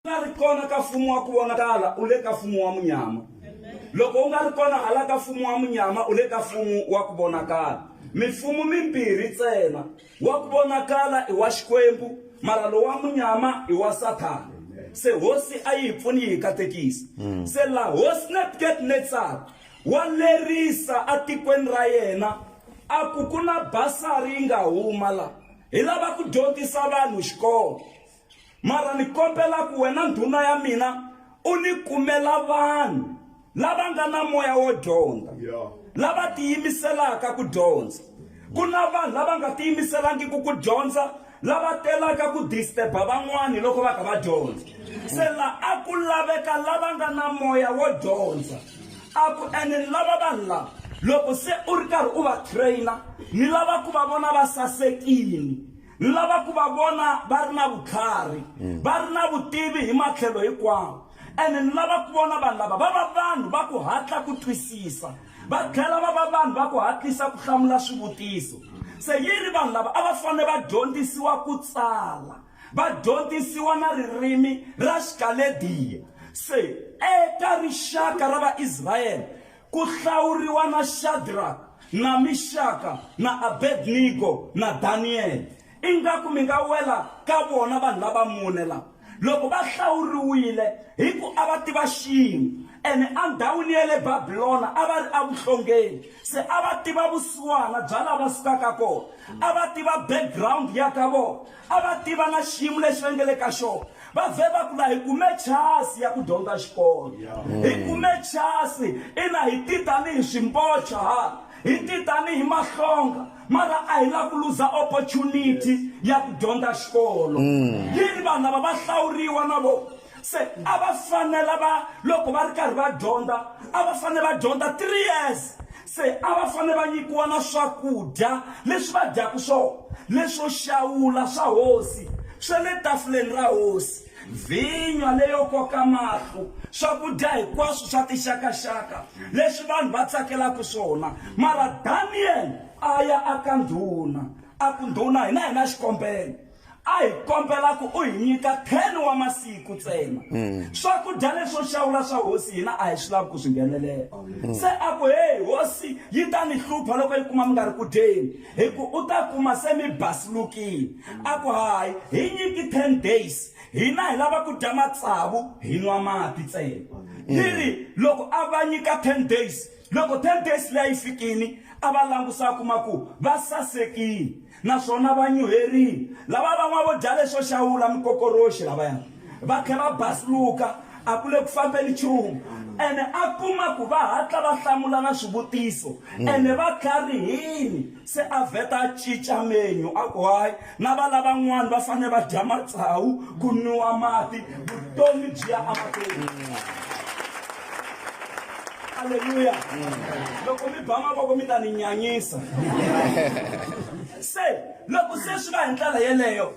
nga ri kona ka mfumo wa ku vonakala u le ka mfumo wa munyama loko u nga ri kona hala ka mfumo wa munyama u le ka mfumo wa ku vonakala mifumo mimbirhi ntsena wa ku vonakala i wa xikwembu mara lowu wa munyama i wa sathana se hosi a yi hi pfuni yi hi katekisa mm. se la hosi nebukadnetsar wa lerisa atikweni ra yena a ku ku na basari yi nga huma la hi lava ku dyondzisa vanhu xikolo Mara ni kombela ku wena ndhuna ya mina u ni kumela vanhu lava nga na moya wo dyondza lava tiyimiselaka ku dyondza ku na vanhu lava nga tiyimiselangiki ku dyondza lava telaka ku disturba van'wani loko va kha va dyondza se la a ku laveka lava nga na moya wo dyondza a ku ene ni lava vanhu lava loko se u ri karhi u va trainer ni lava ku va vona va sasekile Ni lava ku va vona va ri na vutlhari, va ri na vutivi hi matlhelo hinkwawo. Ene ni lava ku vona vanhu lava va va vanhu va ku hatla ku twisisa, va tlhela va va vanhu va ku hatlisa ku hlamula swivutiso. Se yi ri vanhu lava a va fanele va dyondzisiwa ku tsala, va dyondzisiwa na ririmi ra Xikalediya. Se eka rixaka ra Vaisrayele, Ku hlawuriwa na Shadraka, na Mixaka, na Abednego, na Daniyele. Ingaku mi nga wela ka vona vanhu lava mune lava. Loko va hlawuriwile, hi ku a va tiva xin'we. Ene endhawini ya le Babilona a va ri evuhlongeni, se a va tiva vusiwana bya laha va sukaka kona, a va tiva background ya ka vona, A va tiva na xiyimo lexi va nge le ka xona. Va vhe va ku, La hi kume chasi ya ku dyondza xikolo. Hi kume chasi. Ina, hi ti tanihi swimpocha hala. Hi ti tanihi mahlonga. Mara a hi lavi ku luza opportunity ya ku dyondza xikolo. Yini, vanhu lava va hlawuriwa na vona. Se a va fanela va, loko va ri karhi va dyondza, a va fanele va dyondza three years. Se a va fanele va nyikiwa na swakudya leswi va dyaka swona, leswo xawula swa hosi swa le tafuleni ra hosi, vhinya leyo koka mahlo, swakudya hinkwaswo swa tixaka-xaka leswi vanhu va tsakelaka swona. Mara Daniyele a ya aka ndhuna, a ku, Ndhuna, hina hi na xikombelo. a hi kombela ku u hi nyika 10 wa masiku ntsena mm. swakudya leswo xawula swa hosi hina a hi swi lavi ku swi nghenelela mm. se a ku heyi hosi yi ta ni hlupha loko yi kuma mi nga ri ku dyeni hi ku u ta kuma se mi basilukile a ku hayi hi nyiki 10 days hina hi lava ku dya matsavu hi nwa mati ntsena mm. yi ri loko a va nyika 10 days loko 10 days leyi fikini a va langusa kuma ku va sasekile Naswona vanyuherini lava va n'wa vo dya leswo xawula mikokoroxi lavaya va tlhe va basluka, a ku le ku fambeni nchumu. Ene a kuma ku va hatla va hlamula na swivutiso, ene va tlharihini, se a vheta a cinca menyu, a ku, Hayi, na va lavan'wana va fanele va dya matsawu, ku nwiwa mati, vutomi byi ya amahlweni. halleluya loko mi ba mavoko mi ta ni nyanyisa se loko se swi va hi ndlela yeleyo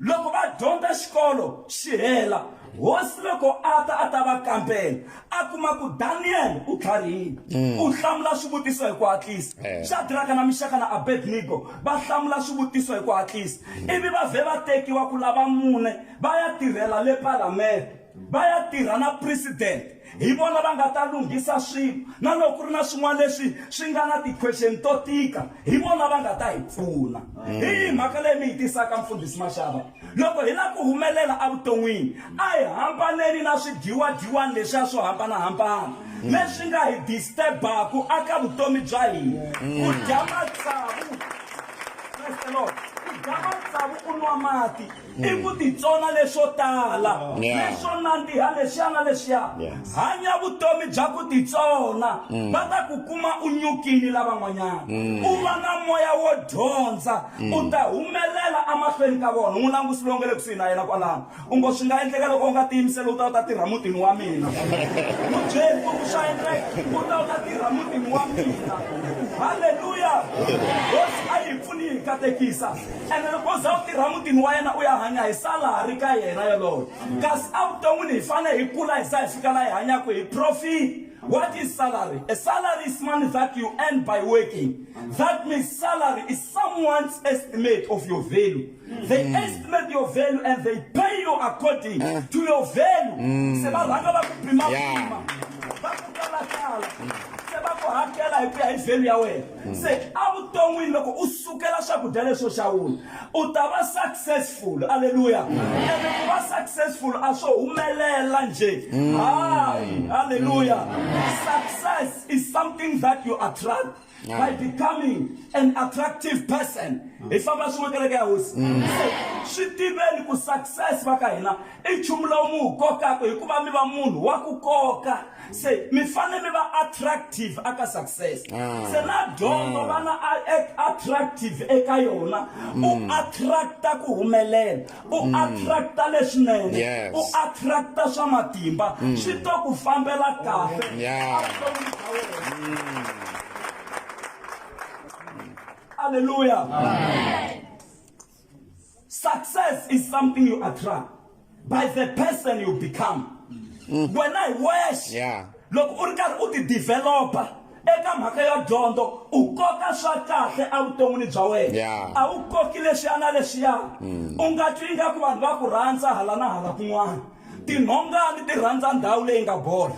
loko va dyondza xikolo xi hela hosi loko a ta a ta va kambela a kuma ku daniyele u tlharihile mm. u hlamula swivutiso hi ku hatlisa eh. shadraka na mixaka na abednego va hlamula swivutiso hi ku hatlisa mm. ivi va vhe va tekiwa ku lava mune va ya tirhela le palamende va ya tirha na president hi vona va nga ta lunghisa swilo na loko ku ri na swin'wana leswi swi nga na ti-question to tika hi vona va nga ta hi pfuna hi yihi mhaka leyi mi yi tisaka mfundhisi maxava loko hi lava ku humelela evuton'wini a hi hambaneni na swidyiwadyiwani leswiya swo hambanahambana leswi nga hi disturbaku aka vutomi bya hina ku dya matsavu ku dya matsavu u nwa mati i ku titsona leswo tala leswo nandziha lexiya na lexiya hanya vutomi bya ku titsona mm. va ta ku kuma u nyukile lavan'wanyana mm. u va na moya wo dyondza mm. u ta humelela emahlweni ka vona n'wi langusi lowu nga le kusuhi na yena kwalano u ngo swi nga endleka loko u nga tiyimiseli u ta u ta tirha mutini wa mina mubyeri u swa endleka u ta u ta tirha mutini wa mina halleluya hosi a yi pfuni yi katekisa ene loko za u tirha mutini wa yena u ya hanya hi salari ka yena yoloyo kasi evuton'wini hi fanele hi kula hi za hi fika laha hi hanyaka hi profit What is salary? A salary is money that you earn by working. That means salary is someone's estimate of your value. They mm. estimate your value and they pay you according uh. to your value. Mm. Se ba ranga ba kupima kupima. Ba kutala kala. Se ba kuhakela hi ku ya hi value ya wena. se evuton'wini loko u sukela swakudya leswo xawula u ta va successful aleluya ene ku va successful a swo humelela nje hayi aleluya success is something that you attract by becoming an attractive person hi famba swin'we kereke ya hosi se swi tiveni ku success va ka hina i nchumu lowu mi wu kokaka hikuva mi va munhu wa ku koka se mi fanele mi va attractive aka success ah. se na dyondzo ah. vana attractive eka yona u mm. attracta ku humelela u mm. attracta leswinene u attracta swa matimba mm. swi to ku fambela kahle halleluya success is something you attract by the person you become mm. wena hi wexe yeah. loko u ri karhi u ti developa eka mhaka ya dyondzo u koka swa kahle evuton'wini bya wena a wu koki leswiya na leswiya mm. u nga twi ingaku vanhu va ku rhandza hala na hala kun'wana Tinhongani ti rhandza ndhawu leyi nga bola.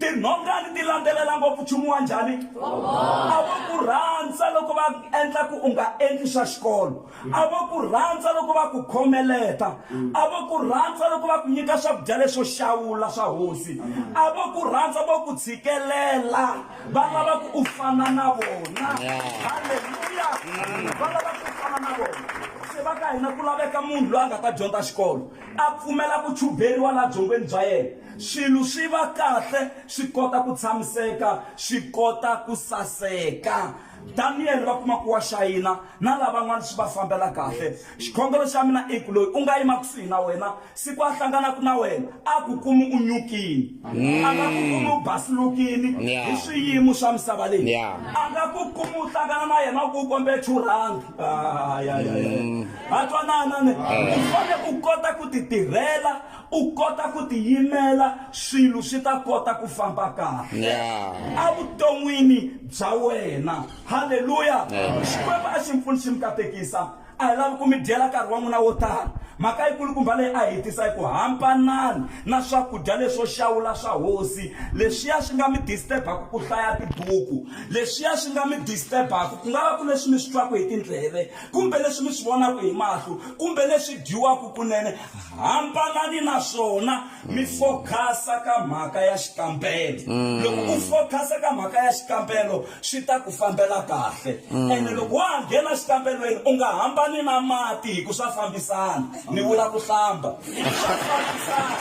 Tinhongani ti landzelela ngopfu nchumu wa njhani? A vo ku rhandza loko va endla ku u nga endli swa xikolo. A vo ku rhandza loko va ku khomeleta. A vo ku rhandza loko va ku nyika swakudya leswo xawula swa hosi. A vo ku rhandza vo ku tshikelela. va lava ku u fana na vona halleluya va lava ku u fana na vona se va ka hina ku laveka munhu loyi a nga ta dyondza xikolo a pfumela ku chuberiwa laha byongweni bya yena swilo swi va kahle swi kota ku tshamiseka swi kota ku saseka daniyele va kuma ku wa xayina na lavan'wana swi va fambela kahle xikhongelo xa mina i ku loyi u nga yima kusuhi na wena siku a hlanganaka na wena a ku kumi u nyukini a nga ku kumi u basilukini hi swiyimo swa misava leyi a nga ku kumi u hlangana na yena ku u kombe churhangi a twanana ne u fane u kota ku ti tirhela U kota ku tiyimela, swilo swi ta kota ku famba kahle Yeah. evuton'wini bya wena. Haleluya! Xikwembu a xi mi pfuni xi mi katekisa. A hi lavi ku mi dyela nkarhi wa n'wina wo tala. Mhaka yikulukumba leyi a hi yi tisa i ku hambanani na swakudya leswo xawula swa hosi. Leswiya swi nga mi disturb-aka ku hlaya tibuku, leswiya swi nga mi disturb-aka ku nga va ku leswi mi swi twaka hi tindleve, kumbe leswi mi swi vonaka hi mahlo, kumbe leswi dyiwaka kunene, Hambanani na swona mi focus-a ka mhaka ya xikambelo. Loko u focus-a ka mhaka ya xikambelo swi ta ku fambela kahle. Ene loko wa ha nghena xikambelweni u nga hambani na mati hi ku swa fambisana ni vula ku hlamba. Swa fambisana.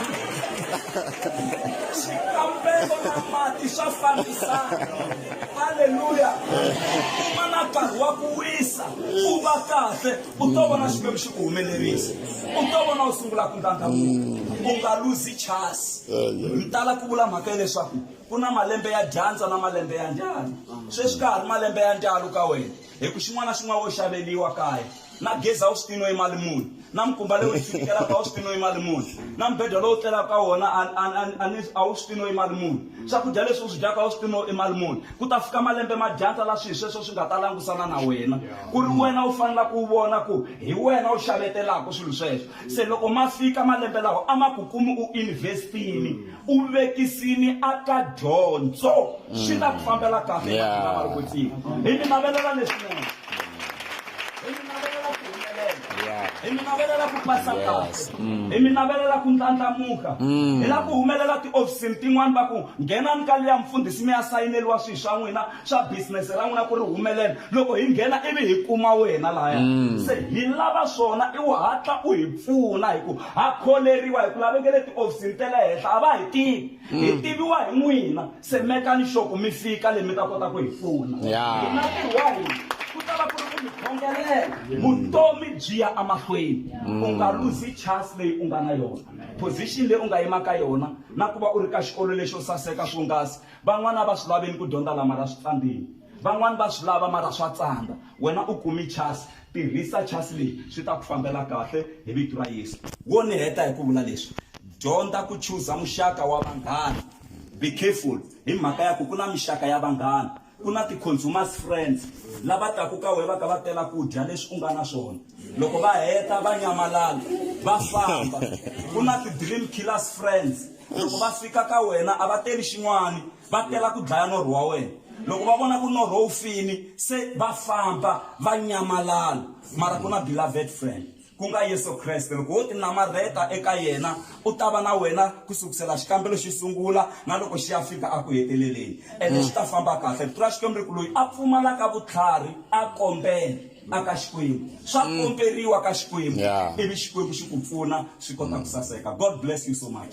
Xikambelo na mati swa fambisana. Haleluya. Kuma na nkarhi wa ku wisa u va kahle. u to vona xikwembu xi ku humelerisa u to vona u sungula ku ndlandlamuka u nga luzi chasi yi tala ku vula mhaka hileswaku ku na malembe ya dyandza na malembe ya ndlalo sweswi ka ha ri malembe ya ndlalo ka wena hi ku xin'wana na xin'wana wo xaveliwa kaya na gezi a wu swi tino yi mali muni na mikumba leyi u yi fikelaka a wu swi tino yi mali muni na mibedwa lowu tlelaka ka wona a wu swi tino yi mali muni swakudya leswi u swi dyaka a wu swi tino i mali muni ku ta fika malembe ma dyandza la swilo sweswo swi nga ta langusana na wena ku ri wena u fanela ku vona ku hi wena u xavetelaka swilo sweswo se loko ma fika malembe lawa a ma ku kumi u investini u vekisini aka dyondzo swi ta ku fambela kahle Yeah. va ri ku tiva hi mi navelela leswinene hi mi navelela ku humelela hi mi navelela ku pasa kahle hi mi navelela ku ndlandlamuka hi la ku humelela tiofisini tin'wani va ku nghenani ka liya mfundhisi mi ya sayineliwa swilo swa n'wina swa bisinese ra n'wina ku ri humelela loko hi nghena ivi hi kuma wena laya se hi lava swona i wu hatla u hi pfuna hi ku ha kholeriwa hi ku lavekele tiofisini te le henhla a va hi tivi hi tiviwa hi n'wina Tsemekani xoku mi fika le mi ta kota ku hi pfuna. Hi nga tirha hi ku ta va ku ri ku mi khongelela vutomi byi ya emahlweni u nga luzi chance leyi u nga na yona position leyi u nga yima ka yona na ku va u ri ka xikolo lexo saseka swonghasi van'wana a va swi laveni ku dyondza lama ra swi tsandzeni van'wana va swi lava mara swa tsandza wena u kumi chance Tirhisa chasi leyi, swi ta ku fambela kahle hi vito ra Yesu. Wo ni heta hi ku vula leswi, Dyondza ku chuza muxaka wa vanghana. Be careful hi mhaka ya ku ku na mixaka ya vanghana. Ku na ti-consumers friends, lava taku ka wehe va ka va tela ku dya leswi u nga na swona, loko va heta va nyamalala va famba. Ku na ti-dream killers friends, loko va fika ka wena a va teli xin'wana va tela ku dlaya norho wa wena loko va vona ku norho wu fini se va famba va nyamalala mara ku na beloved friend ku nga yesu kreste loko wo tinamarheta eka yena u ta va na wena ku sukusela xikambelo xi sungula na loko xi ya fika a ku heteleleni ene xi ta famba kahle rito ra xikwembu ri ku loyi a pfumalaka vutlhari a kombela a ka xikwembu swa komberiwa ka xikwembu Yeah. ivi xikwembu xi ku pfuna swi kota ku saseka god bless you so much